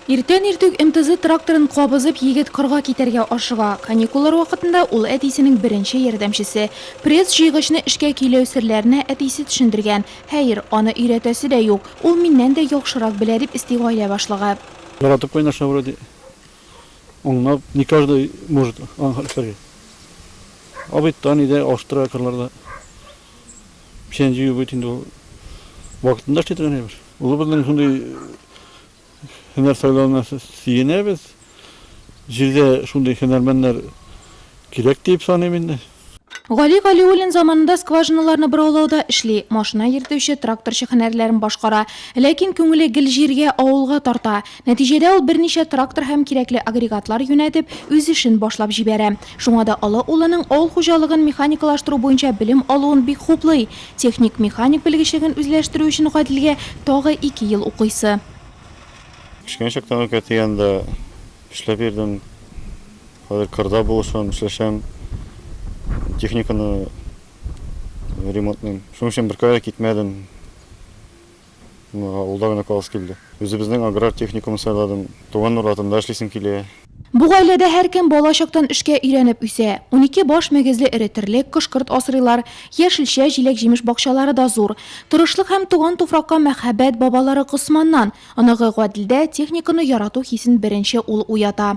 Иртән иртүк МТЗ тракторын кабызып, егет кырга китәргә ашыга. Каникуллар вакытында ул әтисенең беренче ярдәмчесе. Пресс-җыйгычны эшкә көйләү серләренә әтисе төшендергән. Хәер, аны өйрәтәсе дә юк. Ул миннән дә яхшырак белә, дип өсти гаилә башлыгы. Яратып кайнаша вроде, уңнап, не каждый может аны эшләргә. Абый таный да, алыштыра кырларда. Печән җыю бит инде ул вакытында эшли торган әйбер. Улыбызның шундый һөнәр сайлавына сөенәбез. Җирдә шундый һөнәрмәннәр кирәк дип саныйм инде. Гали Галиуллин заманында скважиналарны бораулауда эшли, машина йөртүче, тракторчы һөнәрләрен башкара. Ләкин күңеле гел җиргә, авылга тарта. Нәтиҗәдә ул берничә трактор һәм кирәкле агрегатлар юнәтеп, үз эшен башлап җибәрә. Шуңа да олы улының авыл хуҗалыгын механикалаштыру буенча белем алуын бик хуплый. Техник-механик белгечлеген үзләштерү өчен Гаделгә тагы ике ел укыйсы. Кечкенә чактан ук әти янында эшләп йөрдем. Хәзер кырда булышам, эшләшәм. Техниканы ремонтлыйм. Шуның өчен беркая да китмәдем. Ул да гына каласы килде. Үзебезнең аграр техникумны сайладым. Туган урлатында эшлисем килә. Бу гаиләдә һәркем бала чактан эшкә өйрәнеп үсә. Унике баш мөгезле эре терлек, кош-корт асрыйлар. Яшелчә, җиләк-җимеш бакчалары да зур. Тырышлык һәм туган туфракка мәхәббәт бабалары Госманнан. Оныгы Гаделдә техниканы ярату хисен беренче ул уята.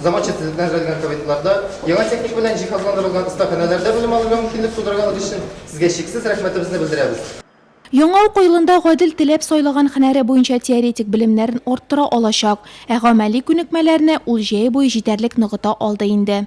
Заманча төзекләнеп эшләтелгән кабинетларда, яңа техника белән җиһазландырылган остаханәләрдә белем алырга мөмкинлек тудырганыгыз өчен Сезгә чиксез рәхмәтебезне белдерәбез. Яңа уку елында Гадел теләп сайлаган һөнәре буенча теоретик белемнәрен арттыра алачак, ә гамәли күнекмәләрне ул җәй буе җитәрлек ныгыта алды инде.